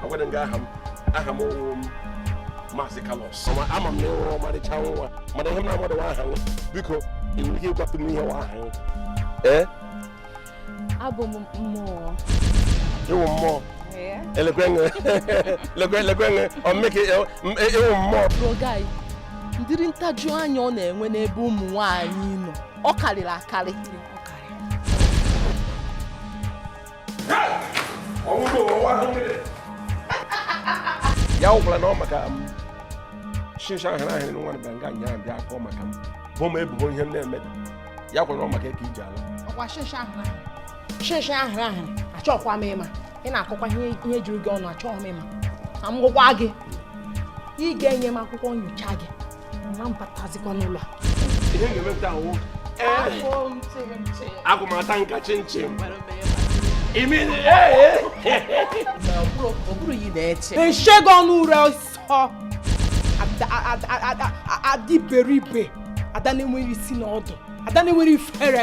agwara m gị aha m aha m wụ maazị kalos ama m na ị wụ ọmarịcha nwa mana ihe m na-amadụ wụ aha gị biko ị nwere ike ịgwatụ m ihe wụ aha gị ee abụ m mmụọ ị wụ mmụọ lekwenye lekwenye ọ mụ ka ị wụ mmụọ ọga gị ụdịrị ntajuanya ọ na-enwe n'ebe ụmụ nwaanyị nọ ọ karịrị akarị ya wụkwara na ọ maka m shinshi ahụ na ahịrị nwa bịara nga nya bịa akọ maka m bo m ebubo ihe m na-emedụ ya wụkwara na ọ maka m ka i ji ala ọkwa shinshi ahụ na ahịrị shinshi ahụ na ahịrị achọkwa m ịma ị na-akọkwa ihe juru gị ọnụ achọghị m ịma ka m gwakwa gị ị ga-enye m akwụkwọ nyocha gị agụmata nka chinchin eshego ọnụ ure ọsọ ada iberibe ada na-enwere isi na ọdụ ada na-enwere ifere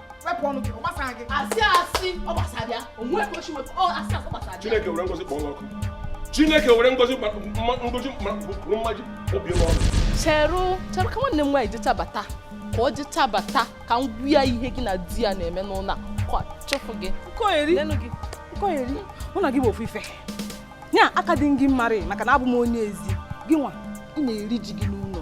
wepụ ọnụ gị ọ gbasara gị asị asị ọ gbasara ya o nwe ka o shi wepụ ọ asị asị ọ gbasara ya chineke were ngozi kpọọ ọkụ chineke were ngozi ngozi bụrụ mmaji obi m ọnụ cheru cheru ka nwanne m nwaanyị jeta bata ka ọ jeta bata ka m gwa ya ihe gị na di ya na-eme n'ụlọ a chụfụ gị nkoyeri nkoyeri mụ na gị bụ ofu ife ya aka dị gị mmarị maka na abụ m onye ezi gị nwa ị na-eri ji gị n'ụlọ